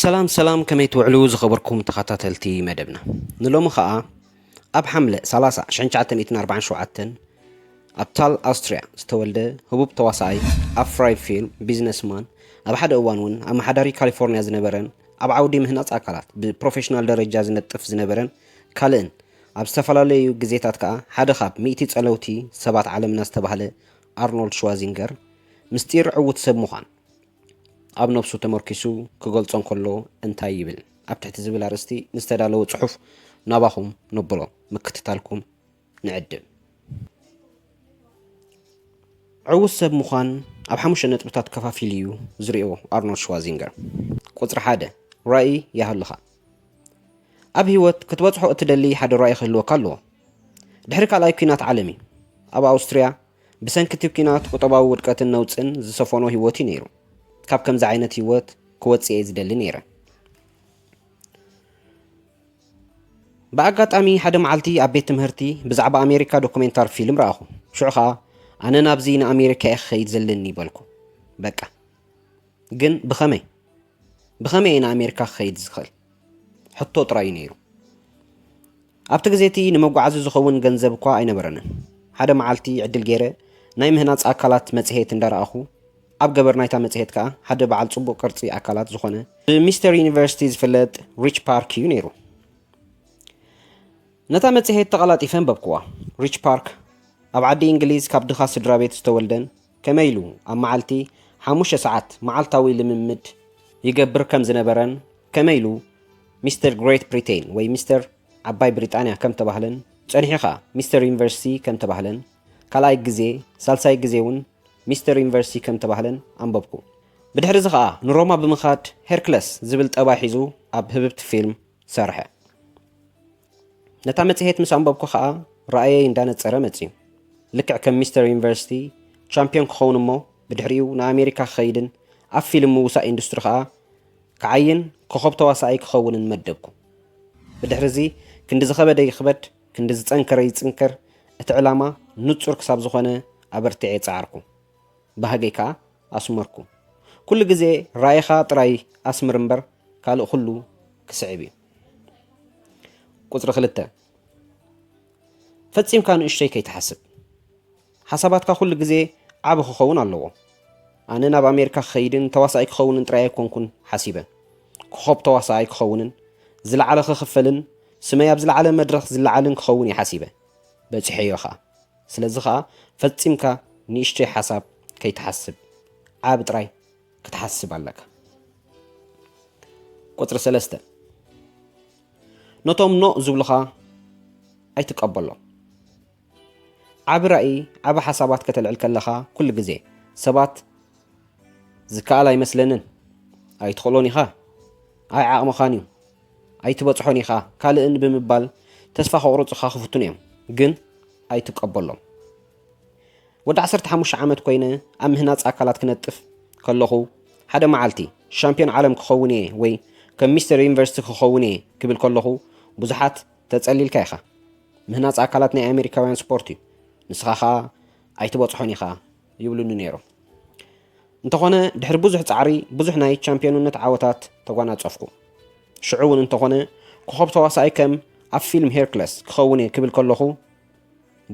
ሰላም ሰላም ከመይ ትውዕሉ ዝኸበርኩም ተኸታተልቲ መደብና ንሎሚ ኸኣ ኣብ ሓምለ 30 1947 ኣብ ታል ኣውስትርያ ዝተወልደ ህቡብ ተዋሳኣይ ኣፍራይ ፊልም ቢዝነስማን ኣብ ሓደ እዋን እውን ኣመሓዳሪ ካሊፎርንያ ዝነበረን ኣብ ዓውዲ ምህናፅ ኣካላት ብፕሮፌሽናል ደረጃ ዝነጥፍ ዝነበረን ካልእን ኣብ ዝተፈላለዩ ግዜታት ከዓ ሓደ ካብ ሚእቲ ጸለውቲ ሰባት ዓለምና ዝተባህለ ኣርኖልድ ሽዋዚንገር ምስጢር ዕዉት ሰብ ምዃን ኣብ ነብሱ ተመርኪሱ ክገልጾ እንከሎ እንታይ ይብል? ኣብ ትሕቲ ዝብል ኣርእስቲ ንዝተዳለወ ጽሑፍ ናባኹም ነብሎ ምክትታልኩም ንዕድም። ዕዉት ሰብ ምዃን ኣብ ሓሙሽተ ነጥብታት ከፋፊሉ እዩ ዝሪኦ ኣርኖልድ ሽዋዚንገር። ቁጽሪ ሓደ ራእይ ይሃሉኻ። ኣብ ህይወት ክትበጽሖ እትደሊ ሓደ ራእይ ክህልወካ ኣለዎ። ድሕሪ ካልኣይ ኲናት ዓለም እዩ። ኣብ ኣውስትርያ ብሰንኪ እቲ ኲናት ቁጠባዊ ውድቀትን ነውጽን ዝሰፈኖ ህይወት እዩ ነይሩ። ካብ ከምዚ ዓይነት ህይወት ክወጽእ እየ ዝደሊ ነይረ። ብኣጋጣሚ ሓደ መዓልቲ ኣብ ቤት ትምህርቲ ብዛዕባ ኣሜሪካ ዶኩሜንታሪ ፊልም ረኣኹ። ሽዑ ኸኣ ኣነ ናብዚ ንኣሜሪካ እየ ክኸይድ ዘለኒ በልኩ። በቃ ግን ብኸመይ? ብኸመይ እየ ንኣሜሪካ ክኸይድ ዝኽእል? ሕቶ ጥራይ እዩ ነይሩ። ኣብቲ ግዜ እቲ ንመጓዓዚ ዝኸውን ገንዘብ እኳ ኣይነበረንን። ሓደ መዓልቲ ዕድል ገይረ ናይ ምህናጽ ኣካላት መጽሔት እንዳ ረኣኹ፣ ኣብ ገበር ናይታ መጽሔት ከኣ ሓደ በዓል ጽቡቕ ቅርጺ ኣካላት ዝኾነ ብሚስተር ዩኒቨርሲቲ ዝፍለጥ ሪች ፓርክ እዩ ነይሩ። ነታ መጽሔት ተቐላጢፈ ኣንበብክዋ። ሪች ፓርክ ኣብ ዓዲ እንግሊዝ ካብ ድኻ ስድራቤት ዝተወልደን ከመይ ኢሉ ኣብ መዓልቲ ሓሙሽተ ሰዓት መዓልታዊ ልምምድ ይገብር ከም ዝነበረን ከመይ ኢሉ ሚስተር ግሬት ብሪተይን ወይ ሚስተር ዓባይ ብሪጣንያ ከም ተባህለን ጸኒሑ ከኣ ሚስተር ዩኒቨርሲቲ ከም ተባህለን ካልኣይ ግዜ ሳልሳይ ግዜ እውን ሚስተር ዩኒቨርሲቲ ከም ተባህለን ኣንበብኩ። ብድሕሪ እዚ ከኣ ንሮማ ብምኻድ ሄርክለስ ዝብል ጠባይ ሒዙ ኣብ ህብብቲ ፊልም ሰርሐ። ነታ መጽሔት ምስ ኣንበብኩ ኸኣ ራእየይ እንዳነጸረ መጺኡ። ልክዕ ከም ሚስተር ዩኒቨርሲቲ ቻምፕዮን ክኸውን እሞ ብድሕሪኡ ንኣሜሪካ ክኸይድን ኣብ ፊልም ምውሳእ ኢንዱስትሪ ኸኣ ክዓይን ኮኾብ ተዋሳኣይ ክኸውንን መደብኩ። ብድሕሪዚ ክንዲ ዝኸበደ ይኽበድ ክንዲ ዝጸንከረ ይጽንከር እቲ ዕላማ ንጹር ክሳብ ዝኾነ ኣበርቲዔ ጸዓርኩ። ባህገይ ከኣ ኣስመርኩ። ኩሉ ግዜ ራኢኻ ጥራይ ኣስምር እምበር ካልእ ኩሉ ክስዕብ እዩ። ቁፅሪ ክልተ ፈፂምካ ንእሽተይ ከይትሓስብ ሓሳባትካ ኩሉ ግዜ ዓብ ክኸውን ኣለዎ ኣነ ናብ ኣሜሪካ ክኸይድን ተዋሳኣይ ክኸውንን ጥራይ ኣይኮንኩን ሓሲበ ክኾብ ተዋሳኣይ ክኸውንን ዝለዓለ ክኽፈልን ስመይ ኣብ ዝለዓለ መድረኽ ዝለዓልን ክኸውን እየ ሓሲበ በፂሐዮ ኸዓ ስለዚ ኸዓ ፈፂምካ ንእሽተይ ሓሳብ ከይትሓስብ ዓብ ጥራይ ክትሓስብ ኣለካ ቁፅሪ ሰለስተ ነቶም ኖእ ዝብሉኻ ኣይትቀበሎም ዓብ ራእይ ዓብ ሓሳባት ከተልዕል ከለኻ ኩሉ ግዜ ሰባት ዝከኣል ኣይመስለንን ኣይትኽእሎን ኢኻ ኣይ ዓቕምኻን እዩ ኣይትበፅሖን ኢኻ ካልእን ብምባል ተስፋ ከቑርፅኻ ክፍትኑ እዮም ግን ኣይትቀበሎም ወዲ ዓሰርተ ሓሙሽተ ዓመት ኮይነ ኣብ ምህናጽ ኣካላት ክነጥፍ ከለኹ ሓደ መዓልቲ ሻምፒዮን ዓለም ክኸውን እየ ወይ ከም ሚስተር ዩኒቨርሲቲ ክኸውን እየ ክብል ከለኹ ብዙሓት ተጸሊልካ ኢኻ። ምህናጽ ኣካላት ናይ ኣሜሪካውያን ስፖርት እዩ፣ ንስኻ ኸኣ ኣይትበጽሖን ኢኻ ይብሉኒ ነይሮም። እንተኾነ ድሕሪ ብዙሕ ጻዕሪ ብዙሕ ናይ ቻምፒዮንነት ዓወታት ተጓናጸፍኩ። ሽዑ እውን እንተኾነ ኮኸብ ተዋሳኣይ ከም ኣብ ፊልም ሄርክለስ ክኸውን እየ ክብል ከለኹ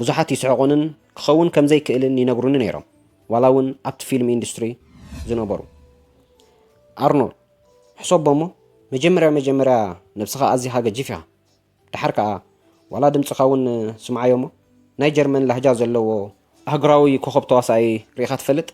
ብዙሓት ይስሕቑንን ክኸውን ከም ዘይክእልን ይነግሩኒ ነይሮም፣ ዋላ እውን ኣብቲ ፊልም ኢንዱስትሪ ዝነበሩ። ኣርኖል፣ ሕሰቦ እሞ፣ መጀመርያ መጀመርያ ነብስኻ ኣዚኻ ገጂፍ ኢኻ፣ ደሓር ከኣ ዋላ ድምጽኻ እውን ስምዓዮ እሞ፣ ናይ ጀርመን ላህጃ ዘለዎ ኣህጉራዊ ኮኾብ ተዋሳኣይ ርኢኻ ትፈልጥ?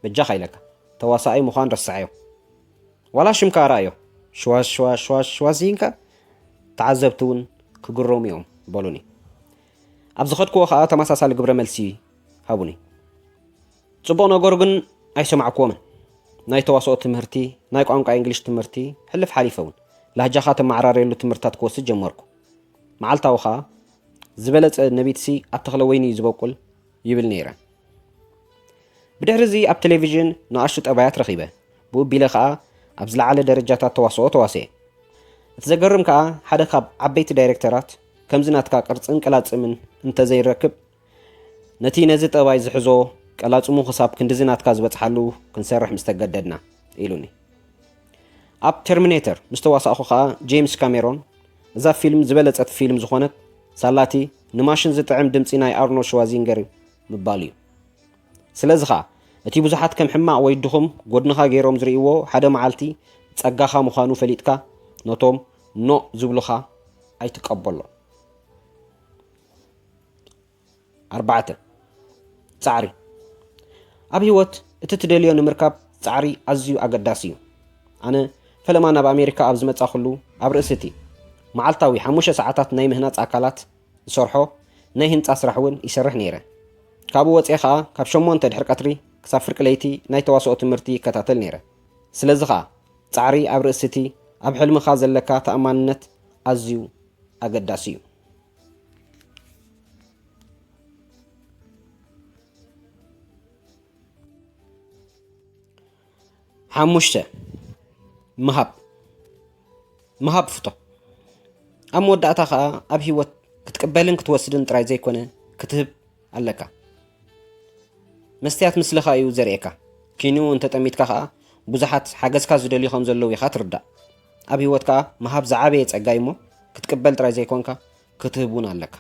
በጃኻ ኢለካ ተዋሳኣይ ምዃን ረስዓዮ ዋላ ሽምካ ርኣዮ ሽዋሽዋሽዋሽዋዚንካ ተዓዘብቲ እውን ክግረሙ እዮም በሉኒ ኣብ ዝኸድክዎ ከዓ ተመሳሳሊ ግብረ መልሲ ሃቡኒ ፅቡቕ ነገሩ ግን ኣይሰማዕክዎምን ናይ ተዋስኦ ትምህርቲ ናይ ቋንቋ እንግሊሽ ትምህርቲ ሕልፍ ሓሊፈ እውን ላህጃኻ ተመዓራርየሉ ትምህርትታት ክወስድ ጀመርኩ መዓልታዊ ከዓ ዝበለፀ ነቢትሲ ኣብ ተኽለ ወይኒ እዩ ዝበቁል ይብል ነይረ ብድሕርዚ ኣብ ቴሌቪዥን ንኣሽቱ ጠባያት ረኺበ፣ ብኡ ቢለ ከኣ ኣብ ዝለዓለ ደረጃታት ተዋስኦ ተዋስኤ። እቲ ዘገርም ከኣ ሓደ ካብ ዓበይቲ ዳይረክተራት ከምዚ ናትካ ቅርጽን ቀላጽምን እንተዘይንረክብ ነቲ ነዚ ጠባይ ዝሕዞ ቀላጽሙ ክሳብ ክንድዚ ናትካ ዝበጽሓሉ ክንሰርሕ ምስ ተገደድና ኢሉኒ። ኣብ ተርሚኔተር ምስ ተዋሳእኩ ከኣ ጄምስ ካሜሮን እዛ ፊልም ዝበለጸት ፊልም ዝኾነት ሳላቲ ንማሽን ዝጥዕም ድምጺ ናይ ኣርኖልድ ሽዋዚንገር ምባል እዩ። ስለዚ ኸኣ እቲ ብዙሓት ከም ሕማቕ ወይ ድኹም ጐድንኻ ገይሮም ዝርእይዎ ሓደ መዓልቲ ጸጋኻ ምዃኑ ፈሊጥካ ነቶም ኖእ ዝብሉኻ ኣይትቀበሎም። ኣርባዕተ። ጻዕሪ ኣብ ህይወት እቲ ትደልዮ ንምርካብ ጻዕሪ ኣዝዩ ኣገዳሲ እዩ። ኣነ ፈለማ ናብ ኣሜሪካ ኣብ ዝመጻኹሉ ኣብ ርእሲ እቲ መዓልታዊ ሓሙሽተ ሰዓታት ናይ ምህናጽ ኣካላት ዝሰርሖ ናይ ህንጻ ስራሕ እውን ይሰርሕ ነይረ። ካብኡ ወጽኤ ከኣ ካብ ሸሞንተ ድሕሪ ቀትሪ ክሳብ ፍርቂ ለይቲ ናይ ተዋስኦ ትምህርቲ ይከታተል ነይረ። ስለዚ ከኣ ጻዕሪ ኣብ ርእሲ እቲ ኣብ ሕልምኻ ዘለካ ተኣማንነት ኣዝዩ ኣገዳሲ እዩ። ሓሙሽተ ምሃብ ምሃብ ፍቶ ኣብ መወዳእታ ከዓ ኣብ ሂወት ክትቅበልን ክትወስድን ጥራይ ዘይኮነ ክትህብ ኣለካ መስትያት ምስልኻ እዩ ዘርእካ ኪኑ እንተጠሚትካ ከዓ ብዙሓት ሓገዝካ ዝደልዩ ከም ዘለዉ ኢኻ ትርዳእ ኣብ ህይወት ከኣ ምሃብ ዝዓበየ ጸጋ እዩሞ ክትቅበል ጥራይ ዘይኮንካ ክትህብ እውን ኣለካ።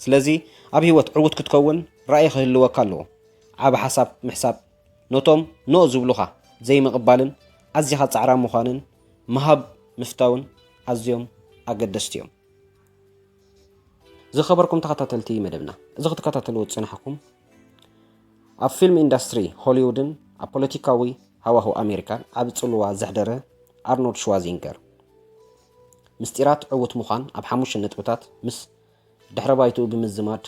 ስለዚ ኣብ ህይወት ዕዉት ክትከውን ራእይ ክህልወካ ኣለዎ። ዓቢ ሓሳብ ምሕሳብ፣ ነቶም ኖእ ዝብሉኻ ዘይምቕባልን ኣዚኻ ጻዕራም ምዃንን ምሃብ ምፍታውን ኣዝዮም ኣገደስቲ እዮም። ዝኸበርኩም ተኸታተልቲ መደብና፣ እዚ ክትከታተልዎ ዝጸናሕኩም ኣብ ፊልም ኢንዳስትሪ ሆሊውድን ኣብ ፖለቲካዊ ሃዋህው ኣሜሪካን ዓቢ ጽልዋ ዘሕደረ ኣርኖልድ ሽዋዚንገር ምስጢራት ዕውት ምዃን ኣብ ሓሙሽተ ነጥብታት ምስ ድሕረ ባይትኡ ብምዝማድ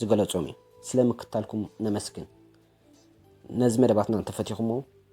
ዝገለጾም እዩ ስለ ምክታልኩም ነመስግን ነዚ መደባትና እንተፈቲኹሞ